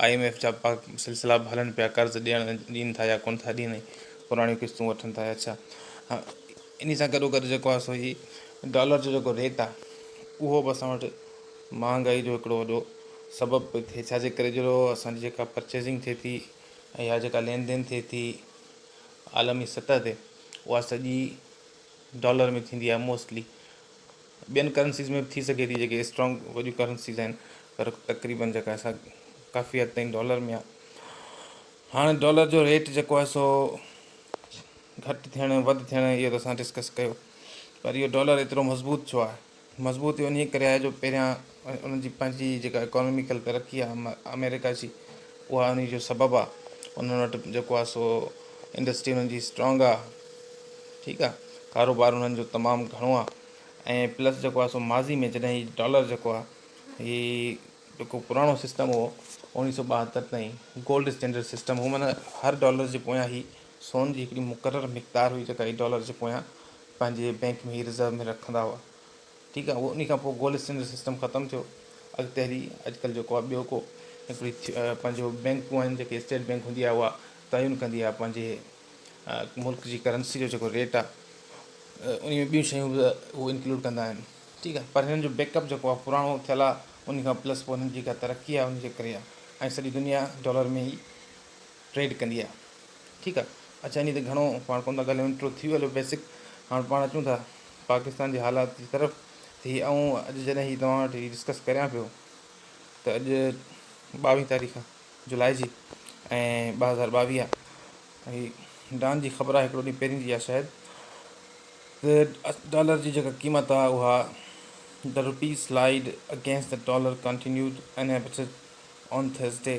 I M F جا پاڪ سلسلا به هلن پيا قرض ڏيڻ ڏين ٿا يا ڪونه ٿا ڏين ۽ پراڻيون قسطون وٺن ٿا يا ڇا انهي سان گڏو گڏ جيڪو آهي سو هي ڊالر جو جيڪو ريٽ آهي اهو به اسان وٽ مهانگائي جو هڪڙو وڏو سبب پئي ٿئي ڇا جي ڪري جو اسان جي جيڪا پرچيزنگ ٿئي ٿي ۽ يا جيڪا لين دين ٿئي ٿي عالمي سطح تي اها سڄي ڊالر ۾ ٿيندي آهي موسٽلي ٻين ڪرنسيز ۾ به ٿي سگهي ٿي جيڪي اسٽرانگ وڏيون ڪرنسيز آهن پر تقريبن جيڪا سا ڪافي حد تائين ڊالر ۾ آهي هاڻي ڊالر جو ريٽ جيڪو آهي سو گهٽ ٿيڻ وڌ ٿيڻ اهو ته اسان ڊسڪس ڪيو پر اهو ڊالر ايترو مضبوط ڇو آهي مضبوط اهو انهي ڪري آهي جو پهريان ۽ انهن جي پنهنجي جيڪا اڪانوميڪل ترقي آهي آمريڪا جي اها انهي جو سبب آهي انهن وٽ جيڪو آهي سو انڊسٽري انهن جي اسٽرانگ آهي ٺيڪ آهي ڪاروبار انهن جو تمام گهڻو آهي ۽ پلس جيڪو آهي سو ماضي ۾ جڏهن هي ڊالر جيڪو آهي هي جيڪو پراڻو سسٽم هو اوڻيهه سو ٻاهتر تائين گولڊ اسٽينڊرڊ سسٽم هو معنيٰ هر ڊالر جي پويان هي سون جي هڪڙي مقرر مقدار هئي جيڪا هي ڊالر جي پويان پنهنجي بينڪ ۾ هي رزرو ۾ رکندا هئا ٺيڪ آ انهي کان پوء گولڊ اسٽينڊرڊ سسٽم ختم ٿيو اڳتي هلي اڄڪلهه جيڪو آ ٻيو ڪو هڪڙي پنهنجو بينڪون آهن جيڪي اسٽيٽ بينڪ هوندي آ اها تعين ڪندي آ پنهنجي ملڪ جي ڪرنسي جو جيڪو ريٽ آ انهي ۾ ٻيون شيون به هو انڪلوڊ ڪندا آهن ٺيڪ آ پر هنن جو بيڪ اپ جيڪو آ پراڻو ٿيل آ انهي کان پلس پوء هنن جي جيڪا ترقي آ انهي جي ڪري آ ۽ سڄي دنيا ڊالر ۾ ئي ٽريڊ ڪندي آهي ٺيڪ آهي اچا اني تي گهڻو پاڻ ڪونه ٿا ڳالهيون انٽرو ٿي ويو هلو بيسڪ هاڻ پاڻ اچون ٿا پاڪستان جي حالات جي طرف ته هي آئون اڄ جڏهن هي توهان وٽ هي ڊسڪس ڪريان پيو ته اڄ ٻاويهه تاريخ جولاء جي ۽ ٻه هزار ٻاويهه هي ڊان جي خبر آهي هڪڙو ڏينهن پهرين جي آهي شايد ڊالر جي جيڪا قيمت آهي اها the rupee slide against dollar continued in upset on Thursday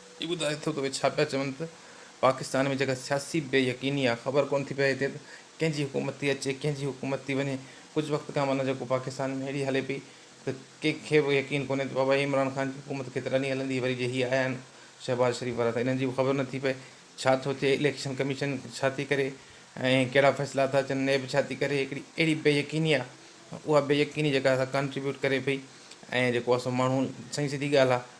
هي ٻڌائي ٿو ته اهي ڇا پيا چون ته پاڪستان ۾ جيڪا سياسي بي يقيني آهي خبر ڪونه ٿي پئي هتي ته ڪنهن جي حڪومت ٿي اچي ڪنهن جي حڪومت ٿي وڃي ڪجهه وقت کان معنيٰ جيڪو پاڪستان ۾ اهڙي هلي پئي ته ڪنهن کي به يقين ڪونهي ته بابا عمران خان جي حڪومت ڪيترا ڏينهن هلندي وري جي هي آيا آهن شهباز شريف وارا ته انهن جي به خبر نه ٿي پئي ڇا ٿو ٿئي اليڪشن ڪميشن ڇا ٿي ڪري ۽ ڪهڙا فيصلا ٿا اچن نيب ڇا ٿي ڪري هڪڙي اهڙي بي يقيني آهي اها بي يقيني جيڪا سا ڪانٽريبيوٽ ڪري پئي ۽ جيڪو اسان ماڻهو سائين سڌي ڳالهه آهي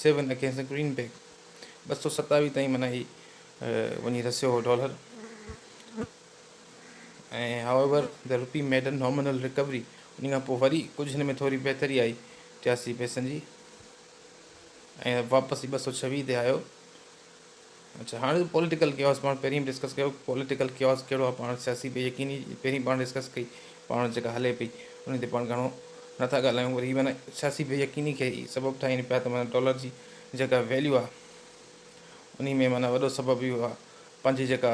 سيون اگينسٽ گرين بيگ ٻه سؤ ستاويهه تائين معنيٰ هي وڃي رسيو هو dollar ۽ however the rupee made an nominal recovery ان کان پوء وري ڪجهه هن ۾ ٿوري بهتري آئي ٽياسي پئسن جي ۽ واپس هي ٻه سؤ ڇويهه تي آيو اڇا هاڻ پوليٽيڪل ڪياس پاڻ پهرين به ڊسڪس ڪيو پوليٽيڪل ڪياس ڪهڙو آهي پاڻ سياسي بي يقيني پهرين پاڻ ڊسڪس ڪئي پاڻ جيڪا هلي پئي ان تي پاڻ گهڻو نٿا ڳالهايون پر هي معنيٰ سياسي بي يقيني کي سبب ٺاهين پيا ته معنيٰ ڊالر جي جيڪا ويليو آهي انهي ۾ معنيٰ وڏو سبب اهو آهي پنهنجي جيڪا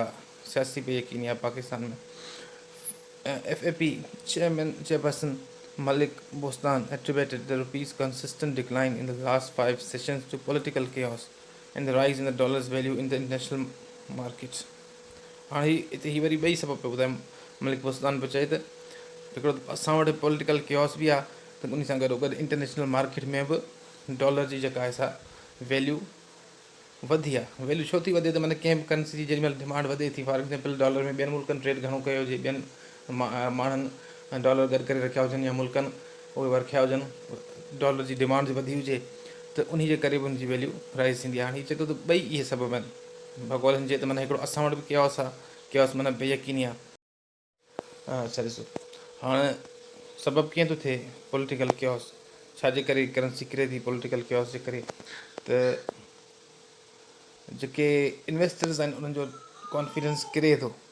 سياسي بي يقيني آهي Pakistan ۾ F A P chairman chairperson Malik Bostan attributed the rupees consistent decline in last five sessions to political chaos and the rise in the dollars value in the international markets هاڻ هي هتي هي وري ٻئي سبب پيو ٻڌائي ملڪ بوستان پيو چئي ته هڪڙو ته اسان وٽ پوليٽيڪل ڪيوس به آهي ته ان سان گڏو گڏ انٽرنيشنل مارڪيٽ ۾ به ڊالر جي جيڪا آهي سا ويليو وڌي آ ويليو ڇو ٿي وڌي ته معنی ڪنهن به ڪرنسي جي جيڏي مهل ڊمانڊ وڌي ٿي فار ايگزامپل ڊالر ۾ ٻين ملڪن ٽريڊ گهڻو ڪيو جي ٻين ماڻهن ڊالر گڏ ڪري رکيا هجن يا ملڪن اهي ورکيا هجن ڊالر جي ڊمانڊ وڌي هجي ته انهي جي ڪري به ان جي ويليو رائز ٿيندي آهي هاڻي هي چئي ٿو ته ٻئي اهي سبب آهن ڀڳوڙن جي ته معنيٰ هڪڙو اسان وٽ به ڪياس آهي ڪياس معنيٰ بي يقيني آهي. اڇا ڏسو هاڻي سبب ڪيئن ٿو ٿئي پوليٽيڪل ڪياس ڇا جي ڪري ڪرنسي ڪري ٿي پوليٽيڪل ڪياس جي ڪري ته جيڪي انويسٽرز آهن انهن جو ڪانفيڊنس ڪري ٿو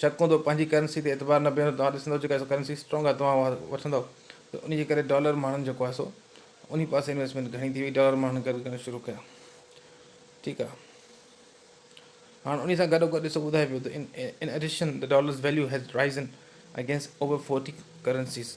شڪ هوندو پنهنجي ڪرنسي تي اعتبار نه بيهندو توهان ڏسندو جيڪا سو ڪرنسي اسٽرونگ آهي توهان اها وٺندو ته انهي جي ڪري ڊالر ماڻهن جيڪو آهي سو انهي پاسي انويسٽمينٽ گهڻي ٿي وئي ڊالر ماڻهن گڏ ڪرڻ شروع ڪيا ٺيڪ آهي هاڻ انهي سان گڏو گڏ ڏسو ٻڌائي پيو ته in addition dollars value has risen against over forty currencies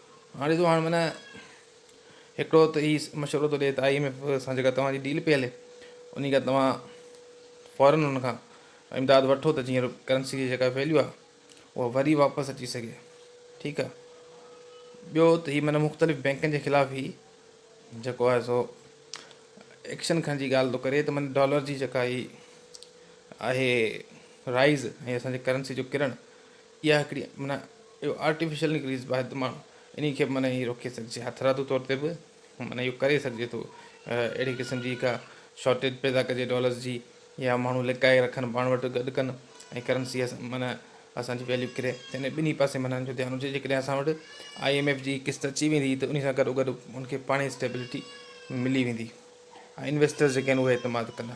هاڻي ڏسو هاڻ معنيٰ هڪڙو ته هي مشورو ٿو ڏي ته آء ايم ايف سان جيڪا توهان جي ڊيل پئي هلي انهي کان توهان فورن ان کان امداد وٺو ته جيئن ڪرنسي جي جيڪا ويليو آهي اها وري واپس اچي سگهي ٺيڪ آهي ٻيو ته هي معنيٰ مختلف بينڪن جي خلاف هي جيڪو آهي سو ايڪشن کڻ جي ڳالهه ٿو ڪري ته معنيٰ ڊالر جي جيڪا هي آهي رائز ۽ اسان جي ڪرنسي جو ڪرڻ اها هڪڙي معنيٰ اهو آرٽيفيشل نڪريس باهه ته ماڻهو انهي کي به معنيٰ ائين روڪي سگهجي هٿرادو طور تي به معنيٰ اهو ڪري سگهجي ٿو اهڙي قسم جي ڪا شارٽيج پيدا ڪجي ڊالرز جي يا ماڻهو لڪائي رکن پاڻ وٽ گڏ ڪن ۽ ڪرنسي معنيٰ اسان جي ويليو ڪري ته انهي ٻنهي پاسي معنيٰ ان جو ڌيان هجي جيڪڏهن اسان وٽ آئي ايم ايف جي قسط اچي ويندي ته انهي سان گڏو گڏ ان کي پاڻهي اسٽيبلٽي ملي ويندي ۽ انويسٽرز جيڪي آهن اهي اعتماد ڪندا.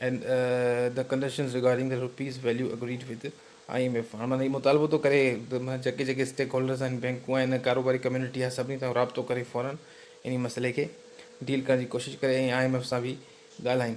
and the conditions regarding the rupees value agreed with IMF هاڻ مان هي مطالبو ٿو ڪري ته مان جيڪي جيڪي اسٽيڪ هولڊرز آهن بينڪون آهن ڪاروباري ڪميونٽي آهي سڀني سان رابطو ڪري فورا انهي مسئلي کي ڊيل ڪرڻ جي ڪوشش ڪري ۽ آء ايم ايف سان به ڳالهائين.